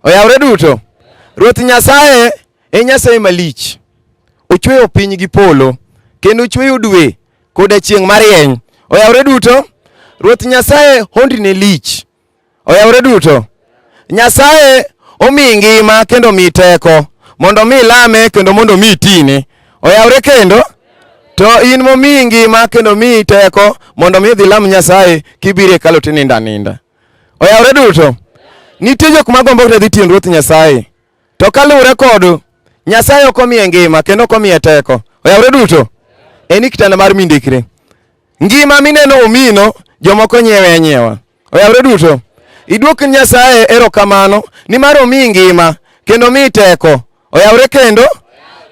Oyawre duto. Ruoth Nyasaye e Nyasaye malich. Ochweyo piny gi polo kendo ochweyo dwe koda chieng' marieny. Oyawre duto. Ruoth Nyasaye hondine lich. Oyawre duto. Nyasaye omi ngima kendo omi teko mondo omi lame kendo mondo omi tine. Oyawre kendo. To in momi ngima kendo omi teko mondo omi idhi lam Nyasaye kibiro e hekalu tinindo aninda. Oyawre duto. Nitie jok ma gombo dhi tiend Ruoth Nyasaye. To kaluwore kod Nyasaye ok omiye ngima kendo ok omiye teko. Oyawre duto. En kitanda mar mindikre. Ngima mineno omino jomoko nyiewe anyiewa. Oyawre duto. Iduok Nyasaye erokamano nimar omiyi ngima kendo omiyi teko. Oyawre kendo.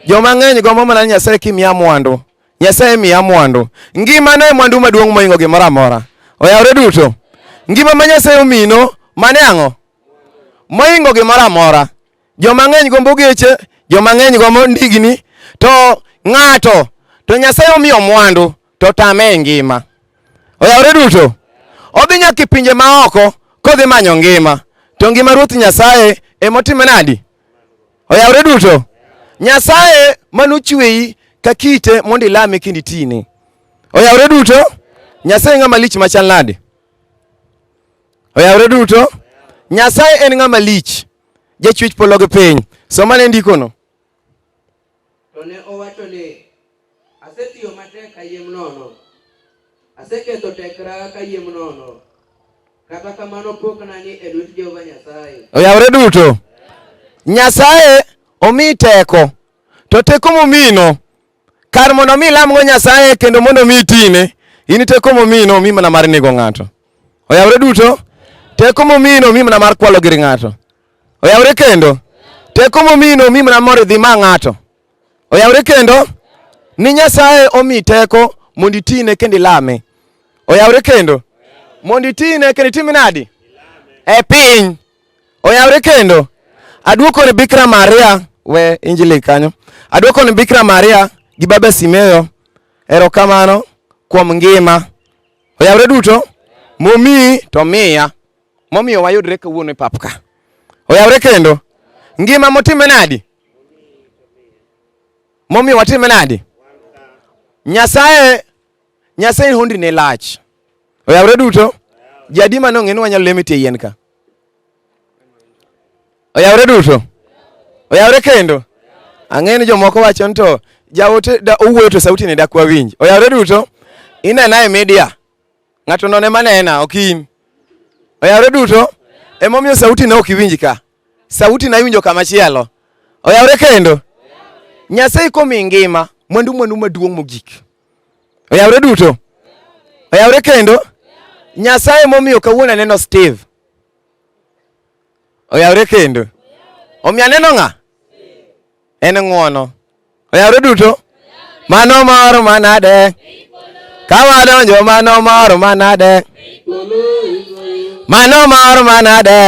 Joma ng'eny gombo mana ni Nyasaye kimiya mwandu. Nyasaye miya mwandu. Ngima ne mwandu maduong' moingo gimoro amora. Oyawre duto. Ngima ma Nyasaye omino mane ang'o? Moingo gimoro amora. Joma ng'eny gombo geche, joma ng'eny gombo ndigni, to ng'ato to Nyasaye omiyo mwandu to tame e ngima. Oyawre duto. Odhi nyaka e pinje maoko kodhi manyo ngima. To ngima Ruoth Nyasaye emotime nadi? Oyawre duto. Nyasaye manochweyi ka kite mondo ilame kendo itine. Oyawre duto. Nyasaye ng'ama lich machal nade? Oyawre duto. Nyasaye en ng'ama lich. Jachwech polo gi piny. Somane ndikono. To ne owacho ni, Asetiyo matek kayiem nono, aseketho tekra kayiem nono, kata kamano pok nani e lwet Jehova Nyasaye. Oyawore duto. Nyasaye omi teko, to teko momino kar mondo omi ilamgo Nyasaye kendo mondo omi itine, in teko momino omi mana mar nego ng'ato. Oyawore duto. Teko momino omi mana mar kwalo gir ng'ato. Oyawre kendo. Teko momi no omi mana mor idhi ma ng'ato. Oyawre kendo. Ni Nyasaye omi teko mondo itine kendo ilame. Oyawre kendo. Mondo itine kendo itime nadi? E piny. Oyawre kendo. Aduoko ni Bikra Maria we injili kanyo. Aduoko ni Bikra Maria gi Baba Simeyo erokamano kuom ngima. Oyawre duto momi to miya. momiyo wayudre kawuono e pap ka. Oyawre kendo. Ngima motime nadi? Momiyo watime nadi? Nyasaye Nyasaye hondi ne lach. Oyawre duto. Jadi mano ng'e ni wanyalo lemo tie yien ka. Oyawre duto. Oyawre kendo. Ang'e ni jomoko wacho ni to jaote da owuoyo to sauti ne dak wawinj. Oyawre duto. Inena e media. Ng'ato none manena ok in. Oyawre duto. Emomiyo sauti na ok iwinj ka. Sauti na iwinjo kama chielo. Oyawre kendo. Nyasaye komi ngima mwandu mwandu maduong' mogik. Oyawre duto. Oyawre kendo. Nyasaye momiyo kawuono aneno Steve. Oyawre kendo. Omiyo aneno ng'a? En ng'wono. Oyawre duto? Mano mor manade. Ka wadonjo mano mor manade. Mano mor manade.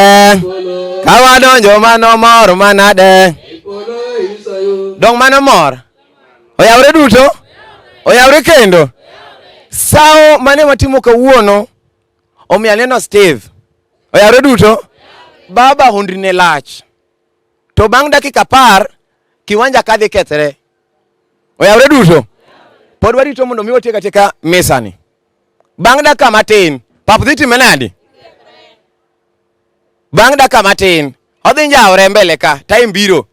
Ka wadonjo mano mor manade. Dong mano mor. Oyawre duto? Oyawre kendo. Sawo mane watimo kawuono Omiyo aneno Steve. Oyaro duto. Baba hundri ne lach. To bang' dakika par, kiwanja ka dhi kethre. Oyawre duto. Pod warito mondo mi watiek atieka misani. Bang' dakika matin, pap dhi time nadi? Bang' dakika matin, odhi njawre mbele ka, time biro.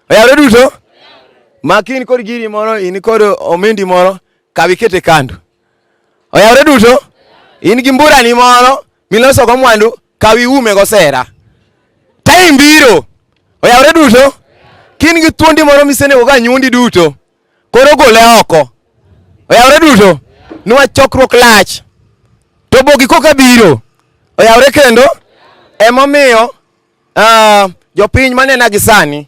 Oyawre duto. Makin kod giri moro, in kod omendi moro, kawi kete kando. Oyawre duto? In gi mburani moro miloso go mwandu kaw iume go sera. Time biro. Oyawre duto? Kin gi thuondi moro misenego ga nyundi duto. Koro gole oko. Oyawre duto? Nwa chokruok lach. To bogi koka biro. Oyawre kendo? Emomiyo uh, jopiny manena gi sani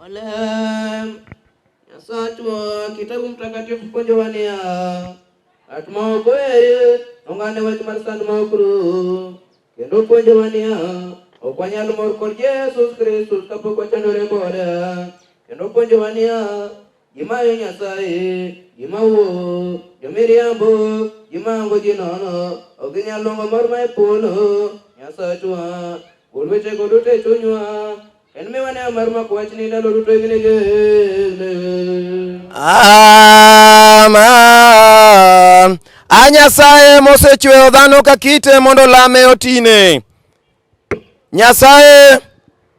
Wala Nyasachwa kitabu mtakatifu kujowania atmaokoyaye ong'ane wach mar sand ma okru kendo puonjowania ok wanyal mor kod Yesus Kristus kapok wachandore kode kendo puonjowania gimayo Nyasaye gima wuo jomiriambo gimango ji nono ok ginyal long'o mor ma e polo Nyasachwa gol wechego duto e chunywa En mi wane mar mako wach ni ndalo duto igni gene. Amen. A Nyasaye mosechweyo dhano ka kite mondo olame otine. Nyasaye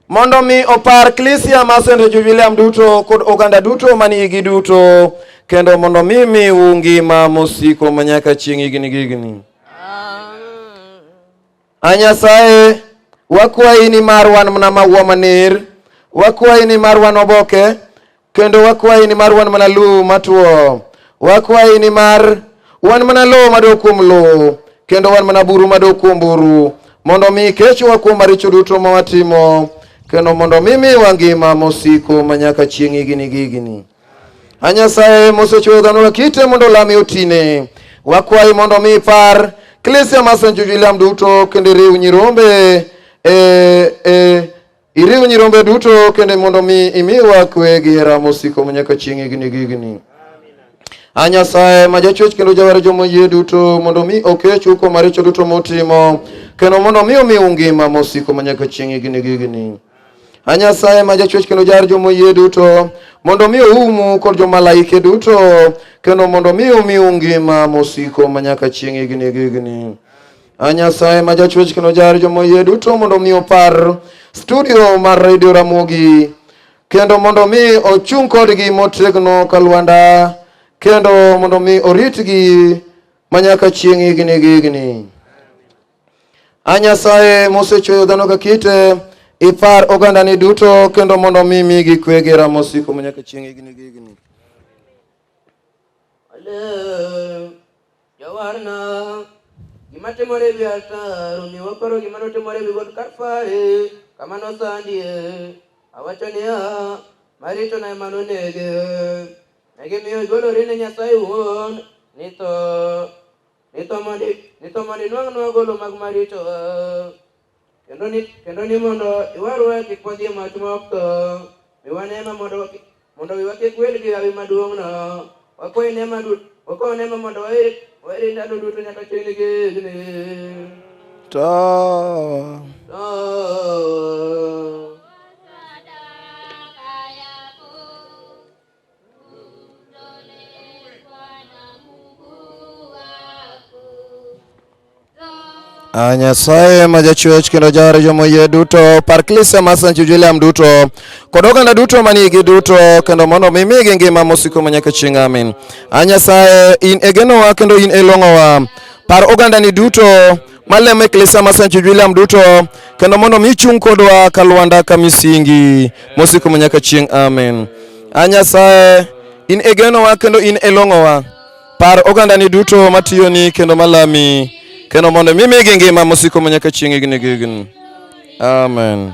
mondo mi opar klisia ma St. Jubiliam duto kod oganda duto manigi duto kendo mondo mi miu ngima mosiko manyaka chieng' igni gigni. A Nyasaye, wakwayi ni mar wan mana maua manir, wakwayi ni mar wan oboke, kendo wakwayi ni mar wan mana lum matuo. Wakwayi ni mar wan mana lowo madok kuom lowo, kendo wan mana buru madok kuom buru, mondo omi ikechwa kuom maricho duto ma watimo, kendo mondo omi miwa ngima mosiko manyaka chieng' higini gi higini. A Nyasaye mosechueyo dhano lakite mondo olame otine. Wakwayi mondo omi ipar klisia mar St. William duto kendo iriw nyirombe e, e, iriw nyirombe duto kendo mondo mi imiwa kwe gi hera mosiko manyaka chieng' higni gi higni. A Nyasaye ma jachwech kendo jawar joma oyie duto mondo mi okechu kuom maricho duto mutimo kendo mondo mi omiu ngima mosiko manyaka chieng' higni gi higni. A Nyasaye ma jachwech kendo jar jomoyie duto, mondo mi oumu kod jomalaike duto, kendo mondo mi umiu ngima mosiko manyaka chieng' higni gi higni. A Nyasaye ma jachwech kendo jar jomoyie duto, mondo mi opar studio mar Radio Ramogi, kendo mondo mi ochung' kodgi motegno ka lwanda, kendo mondo mi oritgi manyaka chieng' higni gi higni. A Nyasaye mosechweyo dhano ka kite, ipar ogandani duto kendo mondo mi migi kwe gi hera mosiko manyaka chieng' higni gi higni. Ale, Jawarna, gima timore ewi altar, omiyo waparo gima notimore ewi got Kalvari, kama nosandie. Awacho niya, maritona ema nonege. Negimiyo igolori ne Nyasaye wuon, ni tho. Ni tho mondo inwang'nwa golo mag maricho, kendo ni mondo iwarwa kik wadhi e mach ma ok tho. Mi wane ema mondo wiwa kik wil gi hawi maduong'no. Wakwayi nema wakawo nema mondo waeri ndalo duto nyaka chieng' gi higni. To. To. A Nyasaye ma jachwech kendo jawar jomo yie duto par klise mar St. William duto kod oganda duto manigi duto kendo mondo mi migi ngima mosiko ma nyaka chieng' amin. A Nyasaye in e genowa kendo in e long'owa par ogandani duto malem e klesa ma Sancho William duto kendo mondo mi chung kodwa ka lwanda ka misingi mosiko manyaka chieng' amen. A Nyasaye in e genowa kendo in e long'owa par ogandani duto matiyoni kendo malami kendo mondo mi migi ngima mosiko manyaka chieng' higni gi higni amen.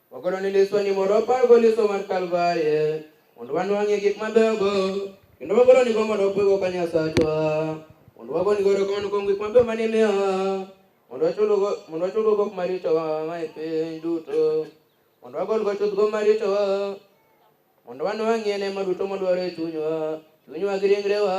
Wagono ni liswa ni mondo wapalgo liswa mar Kalvarie mondo wanwang'ie gik mabeyogo kendo wagolo nigo mondo wapwego ka Nyasachwa mondo wago nigo erokamano kuom gik mabeyo mane imiyowa mondo wachulgo gok marichowa ma e piny duto mondo wagolgo chuthgo marichowa mondo wanwang'ie nema duto modwaro e chunywa chunywa gi ringrewa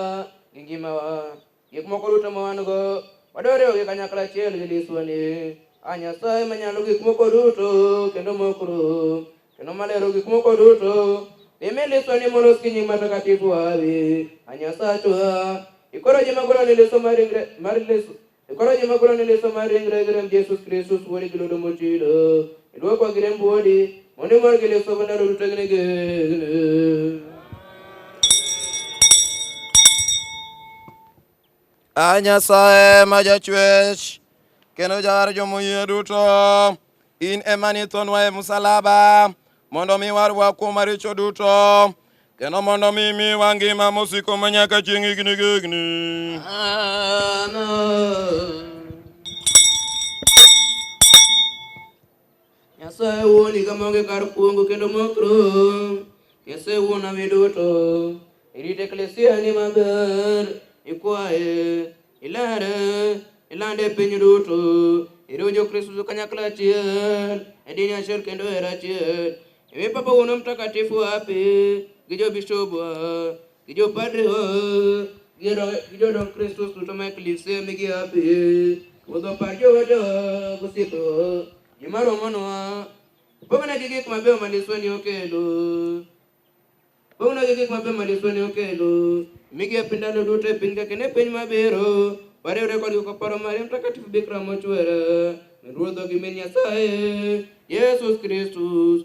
gi ngimawa Gik moko duto ma wan-go wadwa riwogi kanyakla achiel gi liswani a Nyasaye manyalo gik moko duto kendo ma ok rum kendo malero gik moko duto imi liswani molos gi nying matakatifu wawi a Nyasachwa ikoro ji magolo ni liso mar ringre mar liso ikoro ji magolo ni liso mar ringre gi remb Yesus Kristus wuodi gi ludo mochido idwokwa gi remb wuodi Muni margile sobana rutagine ge. A Nyasaye ma jachwech kendo jawar jomoyie duto, in ema nithonwa e msalaba mondo mi warwa kuom maricho duto kendo mondo mi miwa ngima mosiko manyaka chieng' higni gi higni. Amen. Nyasaye wuon higa maonge kar kuongo kendo mok rum. Nyasaye wuon ami duto. Irit eklesia ni maber. Ikwaye. Ilere. Ilande e piny duto. Iriw jo-Kristo duto kanyakla achiel. E dini achiel kendo e hera achiel. Imi Papa wuon mtakatifu wapi gi jobishobwa. Gi jopadre gi jodong Kristo duto ma e klise migia be wuodho par jowete gosiepe gima romonwa pong'negi gik mabeyo ma liswa ni okelo pong'negi gik mabeyo ma liswa ni okelo migepe ndalo duto e piny ka kendo e piny mabiro wariwre kodgi koparo Maria Mtakatifu Bikira mochwere Ruodho gi min Nyasaye Yesus Kristus